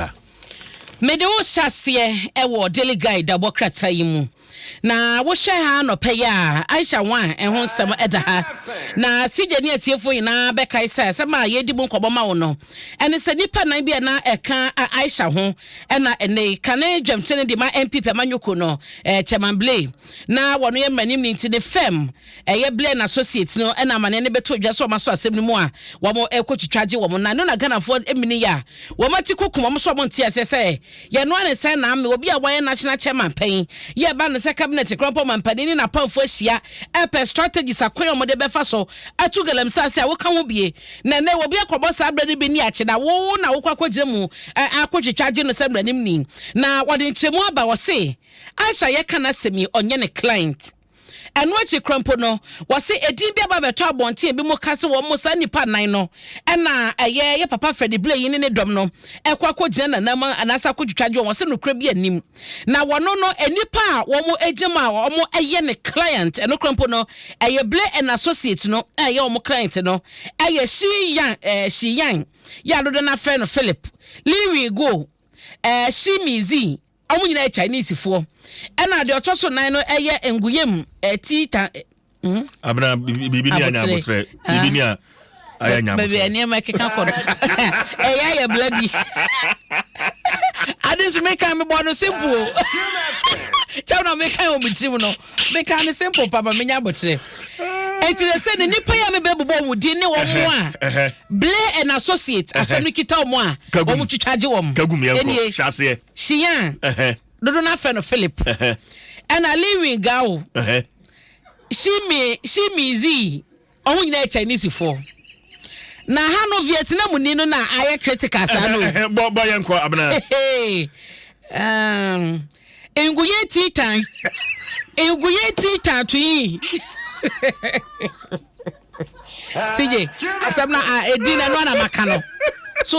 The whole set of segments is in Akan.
a. Mede wo hyɛ aseɛ wɔ Daily Guide dabɔ krataa yi mu. Na wohwɛ ha anɔpɛ yi a, Aisha Wan ho nsɛm da ha. Na CJ ne atiefoɔ nyinaa bɛkae sɛ asɛm a yɛredi mu nkɔmmɔ ma wo no, ɛne sɛ nnipa nan bi a na ɛka Aisha ho na ɛnɛ yi kane dwamtene de ma NPP amanyɔkuo no, Chairman Blay, na wɔn yɛ mmaranim no nti ne fam Ɛyɛ Blair and Associates no na amaneɛ no bɛtɔ dwa sɛ wɔn asɔ asɛm no mu a wɔn ɛkɔ twitwa gye wɔn nan no na Ghanafoɔ mini yɛ a wɔn ati kukum wɔn sɛ wɔn nte aseɛ sɛ yɛn noa ne sɛn na ame obi a wayɛ National Chairman pɛn yɛ ɛba no sɛ Cabinet Krɔmpɔ Mampanin ne n'apamfoɔ ahyia ɛpɛ strategies akwan a wɔn de bɛfa so atu Galamsey ase a woka ho bie na ɛnɛ obi akɔbɔ saa berɛ no bi ne akye na wo na wokɔ akɔgyina mu akɔ twitwa agye no sɛ mmaranim ni na wɔde nkyerɛmu aba wɔse Aisha yɛka n'asɛm yi ɔnyɛ ne client. Ɛno akyi koraa mpo no, wɔse edin bi aba bɛtɔ abɔnten bi mu ka sɛ wɔn saa nnipa nnan no na ɛyɛ yɛ papa Freddie Blaine ne ne dɔm no ɛkɔ akɔgyina nanam anaasɛ akɔtwitwa dwoɔ. Wɔse nokorɛ bi anim na wɔno no nnipa a wɔn agya mu a wɔn ɛyɛ ne client ɛno koraa mpo no ɛyɛ Blaine and Associate no a ɛyɛ wɔn client no ɛyɛ Shi Yang ɛɛ Shi Yang yɛ adodo no afrɛ no Philip Lee Wee Go ɛɛ Shi Mizi Wɔn nyinaa yɛ Chinesefoɔ. Ɛna deɛ ɔtɔ so nan no yɛ Nguyem eh, Ti Tan eh, hmm? Abena biribi ni anya abotrɛ. Biribi ni a ayɛ nya abotrɛ. Baabi a nneɛma keka kɔ no. Ɛyɛ ayɛ bloody. Ade nso meka mebɔ no simple. Kyɛw na meka wɔ me tirim no. mekaa no simple papa menya abokyerɛ ɛnti na sɛ ne nipa yi a mebɛbobɔ wɔn din ne wɔn mo a blair and associate asɛm no kita wɔn a wɔn twitwa gye wɔn ɛnie shiyan dodo no afɛ no philip ɛna lewin gawo shimi shimi zii Ɔho nyina yɛ Chinese foɔ. Na ha no Vietnam ni no na ayɛ critical saa no. Bɔ bɔ yɛ nkɔ abena. Nguye titan. Nguye titan to yi. Sige asɛm na edi na no na maka no. So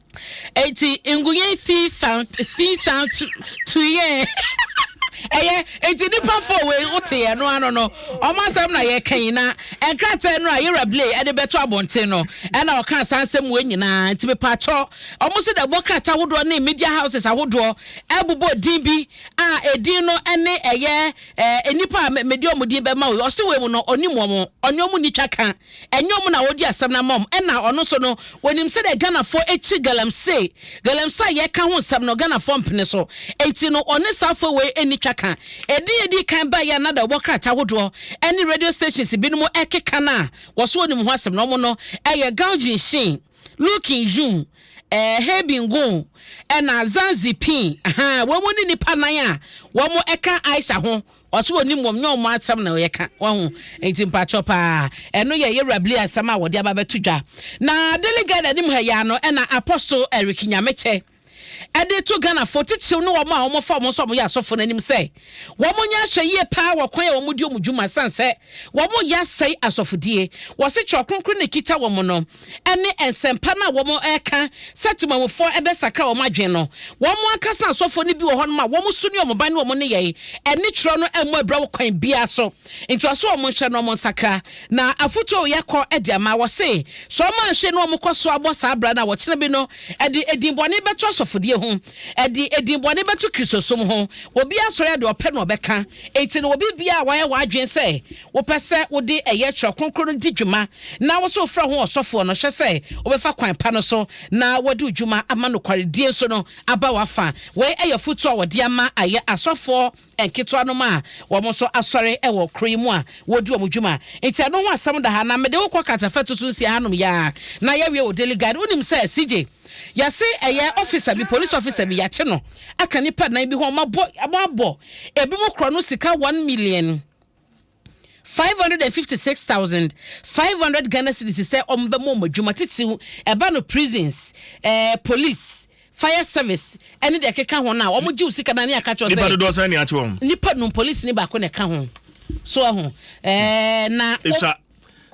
Eti ngunyɛ fi fan fi fan tu tu yɛ. Ɛyɛ eti nipa fo wei wote yɛ no ano no ɔmo asɛm na yɛ ka yi na nkrataa no a yɛwura blay ɛde bɛto abɔnten no ɛna ɔka saa nsɛm wei nyinaa nti mepatwɔ ɔmo se dɛ bɔ krataa ahodoɔ ne media houses ahodoɔ ɛbobɔ din bi a edin no ɛne ɛyɛ ɛɛ nipa a mede ɔmo din bɛma wei ɔse wei mu no ɔnim ɔmo ɔne ɔmo ni twa ka Ɛnyɛ ɔmo na wodi asɛm no ama ɔmo. Ɛna ɔno nso no, wɔnim sɛdeɛ Ghanafoɔ kyi Galamsey. Galamsey a yɛreka ho nsɛm no, Ghanafoɔ mpene so. Enti no, ɔne saa afoa wei nni twaka. Ɛdin a ɛdii kan baeɛ a na dawubɔ krataa ahodoɔ ne radio stations binom rekeka no a wɔso wɔnim ho asɛm no, ɔmo no, ɛyɛ Gao Jin Shin, Lu Kin Jun, eh, He Bin Gung, ɛna Zhang Ziping. Ahaa, wɔn ne nnipa nan a wɔka Aisha ho Ɔse ɔnim wɔm nyɛ ɔmo asɛm na ɔyɛka wahu nti mpakyɛw paa ɛno yɛ yɛwura blee asɛm a wɔde aba bɛto dwa na daily guide anim ha yi ara no ɛna apostle Eric Nyamekyɛ ɛde to Ghana fo titiriw ne wɔn a wɔn fa wɔn nso wɔn yɛ asɔfo no anim sɛ wɔn nyɛ ahwɛ yie paa wɔ kwan a wɔn di wɔn dwuma san sɛ wɔn yɛ asɛe asɔfodie wɔse kyerɛ ɔkronkron na ekita wɔn no ne nsɛmpa no a wɔreka sɛ temamufoɔ bɛsakra wɔn adwene no, wɔn ankasa asɔfoɔ no bi wɔ hɔnom a wɔn su ne wɔn ban ne wɔn nneyɛe ɛne twerɛ no mmɔ abira wɔ kwan biara so. Ntoaso wɔn nhyɛ no wɔn nsakra. Na afotuo a wɔyɛ kɔ de ama, wɔse, sɛ wɔn anhye na wɔkɔ so abɔ saa bra no a, wɔkyena bi no ɛde edin bɔne bɛto asɔfodie ho, ɛde edin bɔne bɛto Kristosom ho, obiara sɔre a deɛ ɔpɛ na ɔbɛka. Enti no obi biara a wayɛ w'adwene sɛ Wopɛ sɛ wode ɛyɛ Twerɛ Kronkron no di dwuma na wo nso wofrɛ ho ɔsɔfoɔ no, hyɛ sɛ wobɛfa kwan pa no so na wɔde wo dwuma ama nokwaredie nso no aba w'afa. Wei yɛ afotuo a wɔde ama ayɛ asɔfoɔ nketewanom a wɔn nso asɔre wɔ kuro yi mu a wɔredi wɔn dwuma. Nti ɛno ho asɛm da ha na mede wo kɔ Katafa tutu nsia hanom yi ara na yɛawie wɔ Daily Guide. Wonim sɛ CJ yɛse ɛyɛ officer bi, police officer bi, yɛakye no aka nnipa nnan bi ho a wɔabɔ ebinom korɔno sika one million. Five hundred and fifty six thousand five hundred Ghana cedis sɛ wɔn bɛ mo wɔn adwuma titiriw ɛba no prisons ɛɛ eh, police fire service ɛne deɛ ɛkeka ho no a wɔn gye wo sika na ne aka kyerɛ sɛ nipa dodoɔ sɛn ne akye wɔn nipa num police ne baako na ɛka ho so ɛho ɛɛ eh, na.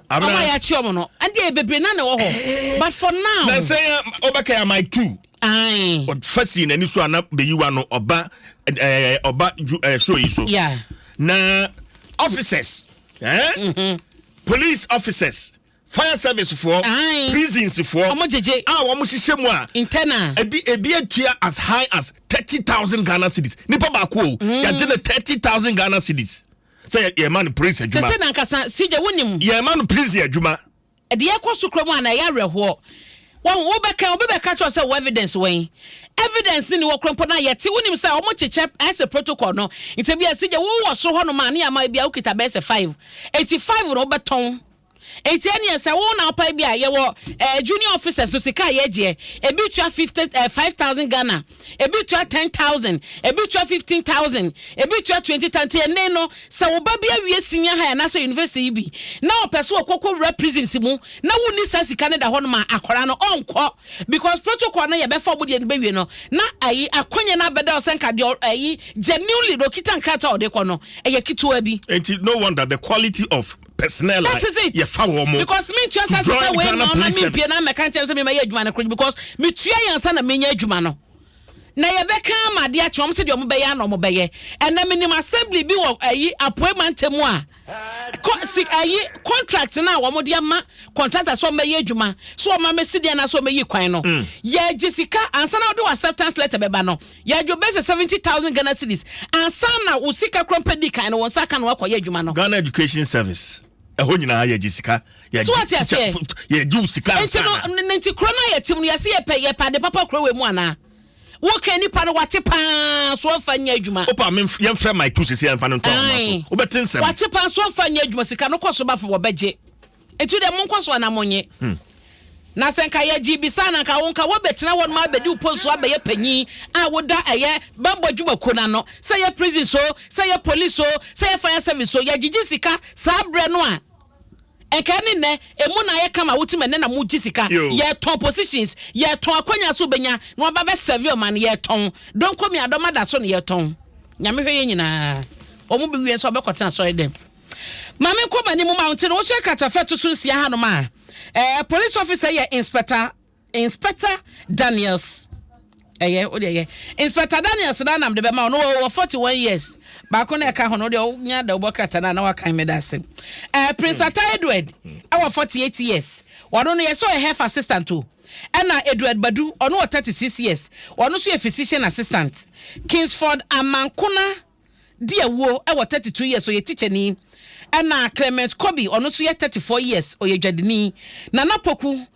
Abena. Ama ya chiom no. Andi e bebre na na wɔ hɔ. Eh. But for now. Na sɛ ya obaka ya mic too. Aye. Fa si na ni so ana be yiwa no oba eh oba ju eh show yi so. Yeah. Na officers. Eh? Mm -hmm. Police officers. Fire service for Aye. prisons for Omo jeje. Ah, omo hyehyɛ mu a. Internal. Ebi ebi atua as high as 30,000 Ghana cedis. Nipa ba ko. Mm. Ya jene 30,000 Ghana cedis. sɛ yɛma no praise adwuma. sese na nkasa sigya wonim. yɛma no praise adwuma. ɛde yɛ kɔ so kura mu a na ɛyɛ awerɛhoɔ wɔn wobɛka obi bɛka kyerɛ sɛ wɔ evidence wɔn evidence ni ni wɔ kurɔmpɔ na yɛte wonim sɛ wɔn kyekyɛ ɛsɛ protocol no nti bi ɛsi gya wowɔ so hɔ nom a ne yɛama ebi a wokita bɛyɛ sɛ five eti five no wobɛtɔn Enti ɛneɛ sɛ wo na wopae bi a, yɛwɔ eh, junior officers no sika a yɛgyeɛ. Ebi tua 50, eh, 5,000 Ghana, ebi tua 10,000, ebi tua 15,000, ebi tua 20,000. Nti ɛnɛ no, sɛ wo ba bi awie senior high anaasɛ university yi bi, na ɔpɛ sɛ ɔkɔkɔ wura prisons mu, na wonni saa sika no da hɔ no ma akwaraa no, ɔnkɔ. Because protocol no yɛbɛfa ɔmo deɛ no bɛwie no, na ayi akɔnyɛ no abɛda ɔsɛ nka deɛ ayi genuinely na ɔkita nkrataa a ɔde kɔ no, ɛyɛ ketewa bi. Enti no wonder the quality of personnel a yɛfa wɔn mo. because mi ntua sɛ sɛ wei ma ɔna mi mpie na mɛka nkyɛn sɛ mi ma yɛ adwuma no koro because mi tua yɛn nsa na mi nya adwuma no na yɛbɛka ama adeɛ akyɛ wɔn sɛ deɛ wɔn bɛyɛ ana wɔn bɛyɛ ɛnna mi nim assembly bi wɔ ayi apoe mante mu a kɔ si ayi contract na wɔn de ama contractor sɛ ɔmmɛyɛ adwuma sɛ ɔma me sidi anaasɛ ɔmɛyi kwan no mm. yɛgye sika ansa na wode wɔ acceptance letter bɛba no yɛgye bɛsɛ seventy thousand ghana cedis ansa na wo sika korɔ mpɛ di kan no wɔn nsa ka no akɔyɛ adwuma no. ghana education service ɛhɔ nyinaa yɛgye sika yɛgye wo sika ansa na. nti kuro no a yɛtem no yɛse yɛpɛ yɛpɛ ade papa kuro wɔ mu anaa. Wo kɛ nipa no wate paa so ɔnfa nyɛ adwuma. Opa me yɛn frɛ my tu sisi yɛnfa no nto ahoma so. Wo bɛ te nsɛm. Wate paa so ɔnfa nyɛ adwuma sika no kɔ so ba fo wɔ bɛ gye. Etu dɛ mo nkɔ so ana mo nye. Hmm. Na sɛ nka yɛ gye bi saa na nka wo nka wɔ bɛ tena hɔ no ma bɛ di wo post so abɛ yɛ panyin a wo da ɛyɛ bambɔ adwuma kuo na no sɛ yɛ prison so sɛ yɛ police so sɛ yɛ fire service so yɛ gyegye sika saa brɛ no a Nka ɛne nnɛ, emu na ayɛ kama, wotumi ɛnnɛ na mogye sika, yɛtɔn positions, yɛtɔn akwanya so wobɛnya na waba bɛ serve ɔman, yɛtɔn donkomi adɔm adaso na yɛtɔn Nyame hwɛ yɛn nyinaa, wɔn bɛwie nso wɔbɛkɔ tena asɔre dɛm. Ma menkɔ m'anim ma wonte no, wohyɛ katafɛ to so nsia hanom a, eh, police officer yɛ inspector, Inspector Daniels ɛyɛ o deɛ yɛ Inspector Daniels na nam de bɛma o no wɔ forty one years baako na ɛka ho no deɛ ɔnya da ɔbɔ krata na na wakan mi da ase ɛɛ Prince hmm. Ata Edward hmm. ɛwɔ forty eight years wɔn no yɛ sɛ ɔyɛ health assistant o ɛna Edward Badu ɔno wɔ thirty six years wɔn nso yɛ physician assistant Kingsford Amankona. di awuo wɔ thirty two years ɔyɛ tikyani ɛna Clement Kobi ɔno nso yɛ thirty four years ɔyɛ dwadini Nana Poku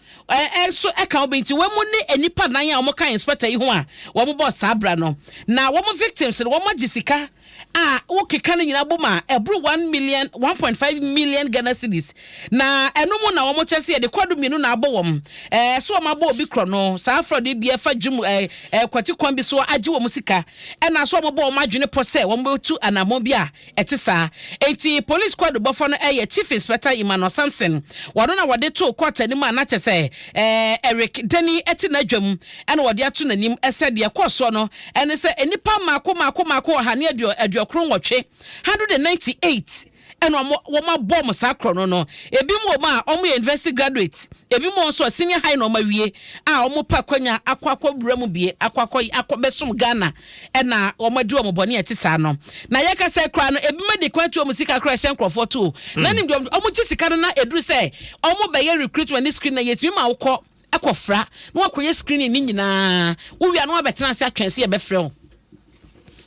nso ɛka obi nti wɔn mu ne nnipa nan a wɔn ka inspector yi ho a wɔn bɔ saa abira no na wɔn victims no wɔn agye sika a wokeka no nyinaa bom a ɛboro one million one point five million Ghana cedis Na ɛno mu na wɔn kyɛ sɛ yɛde kɔɔdo mmienu na abɔ wɔn. Ɛɛ so wɔn abɔ obi korɔ no, saa afrɔde yi deɛ fa dwom ɛɛ ɛɛ kwati kwan bi so agye wɔn sika. Ɛna so wɔn bɔ wɔn adwene pɔ sɛ wɔn bɛtu anammɔn bi a ɛte saa. Enti polis kɔɔdo bɔfɔ no ɛyɛ Chief Inspector Emmanuel Samson. Wɔn na wɔde too kɔɔto anim a na kyɛ sɛ ɛɛ Eric Deni te n'adwam ɛna wɔde ato n'anim sɛ deɛ ɛkɔɔ soɔ no ɛne sɛ nnipa mmaako mmaako mmaako ɔha ne aduo aduokron nwɔtwe, 198, ɛna ɔmo wɔn abɔ ɔmo saa korɔ no no ebi mu wɔn a ɔmo yɛ university graduate ebi mu wɔn nso a senior high na ɔmo awie a ɔmo pɛ akwanya akɔ akɔ wura mu bie akɔ akɔ akɔ bɛsom ghana ɛna ɔmo adi ɔmo bɔne a ɛte saa no na yɛkasa koraa no ebi ma de kwan tu ɔmo sika koraa ɛhyɛ nkorɔfoɔ to o na nim deɛ ɔmo gye sika no na eduru sɛ ɔmo bɛyɛ recruitment ne screen na yɛtumi ma wokɔ kɔ fra na wakɔ yɛ screening ne nyinaa wo wia na wabɛtena ase atwɛn sɛ yɛbɛfrɛ wo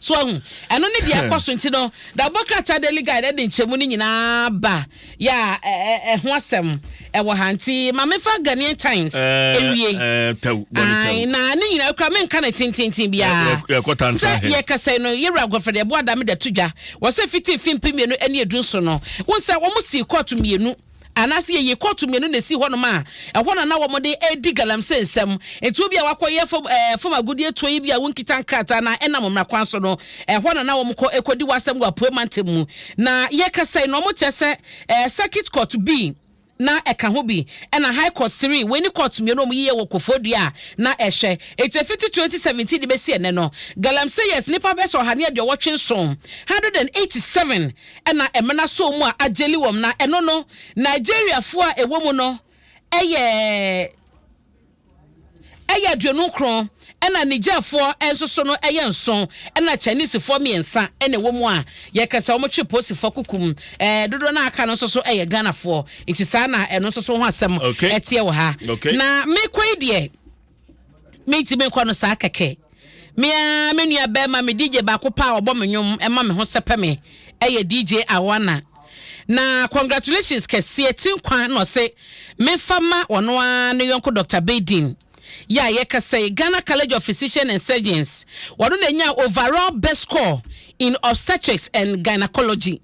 so ahu ɛno ne deɛ ɛkɔ so nti no da bɔ krataa daily guide ɛde nkyɛmu no nyinaa ba yɛ a ɛho asɛm ɛwɔ ha nti ma mefa Ghanaian Times ɛwie na ne nyinaa kura menka no tententen biara sɛ yɛkasa no yɛwura agɔfrɛ deɛ ɛboa da me da to dwa wɔ sɛ fiti fi mpe mmienu ɛne edu so no wo sɛ wɔn si kɔɔto mmienu anaasɛ yɛyi kɔɔto mmienu na ɛsi hɔnom a, ɛhɔ na na wɔde redi galamsey nsɛm. Enti obi a wakɔyɛ fam, eh, fam agodie tuo yi bi a wonkita nkrataa na ɛnam mmara kwan so no, ɛhɔ na na wɔkɔ ɛkɔdi w'asɛm wɔ apuei mantam mu. Na yɛkasa yi na wɔkyerɛ sɛ eh, circuit court bi na ɛka ho bi, ɛna high court three, wei ne court mmienu a wɔyiyɛ wɔ Kofodua a na ɛhwɛ. Enti ɛfiti 2017 de bɛsi ɛnɛ no, galamseyers nnipa bɛsɛ ɔha ne aduɔwɔtwe nson, 187, na ɛmena sɔɔ mu a agyeli wɔm na ɛno no Nigeriafoɔ a ɛwɔ mu no yɛ yɛ aduonu nkron ɛna Nigerfoɔ nso so no yɛ nson ɛna Chinesefoɔ mmiɛnsa na ɛwɔ mu a yɛka sɛ wɔn twe posifoɔ kukum ɛɛ dodoɔ no aka no nso so yɛ Ghanafoɔ nti saa na ɛno nso so ho asɛm ɛteɛ wɔ ha na mekɔ yi deɛ Mentimi nkɔ no saa kɛkɛ. Me ara me nua bɛrima, me DJ baako paa ɔbɔ me nnwom, ɛma me ho sɛpɛ me, ɛyɛ DJ Awana. Na congratulations kɛseɛ, ti nkwa na ɔse memfa ma ɔno ara ne yɔnko Dr. Baydin. Yɛ a yɛkasa yi, Ghana College of Physicians and Surgeons, ɔno na ɛnyaa overall best score in obstetrics and gynecology.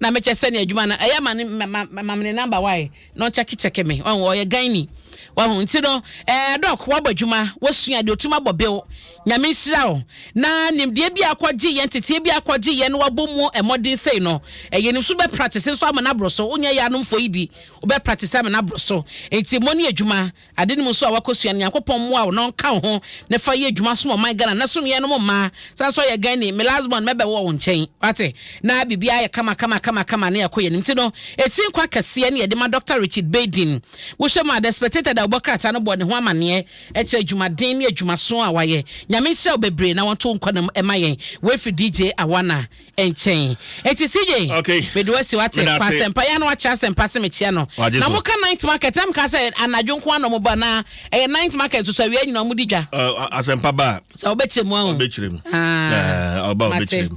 Na mekyɛ sɛ ne adwuma no, ɛyɛ ma ne, ma, ma, ma me ne number wae. na ɔkyɛkekyɛke me ɔho ɔyɛ gani wahu nti no ɛɛ dɔk wabɔ adwuma wasua deɛ ɔtumi abɔ bew nyame nhyira wo na nimdeɛ bi akɔgye yɛn teteɛ bi akɔgye yɛn na wabɔ mu mmɔden sei no ɛyɛ nim so bɛ practice nso ama no aboro so wonyɛ yɛ anomfoɔ yi bi wobɛ practice ama no aboro so nti mmɔ ne adwuma Ade no mu nso a wakɔsua no Nyankopɔn mmoa wo na ɔnka wo ho na fa yɛ adwuma som ɔman Ghana na som yɛnom mmaa sane nso ayɛ Ghani me last born mɛbɛ wɔ wo nkyɛn wate na biribiara ayɛ kama kama kama kama na yɛakɔ yɛnim ti no ɛtiri nkwa kɛseɛ ne yɛde ma Doctor Richard Baydin wohyɛ mu a The Spectator da ɔbɔ krataa no bɔɔ ne ho amaneɛ ɛkyerɛ adwumaden ne adwumaso a wayɛ Nyame nhyira wo bebree na wɔnto wo nkwa nam ɛma yɛn wei firi DJ Awana nkyɛn eti CJ okay mede wasi wate kɔ asɛmpa yɛ na wakyerɛ asɛmpa se mekyia no na mo ka ninth market na mo ka sɛ anadwo nko ano mo ba na ɛyɛ ninth market so awia nyina mo di dwa asɛmpa ba sɛ ɔbɛkyerɛ mu ahun ɔbɛkyerɛ mu ɔba ɔbɛkyerɛ mu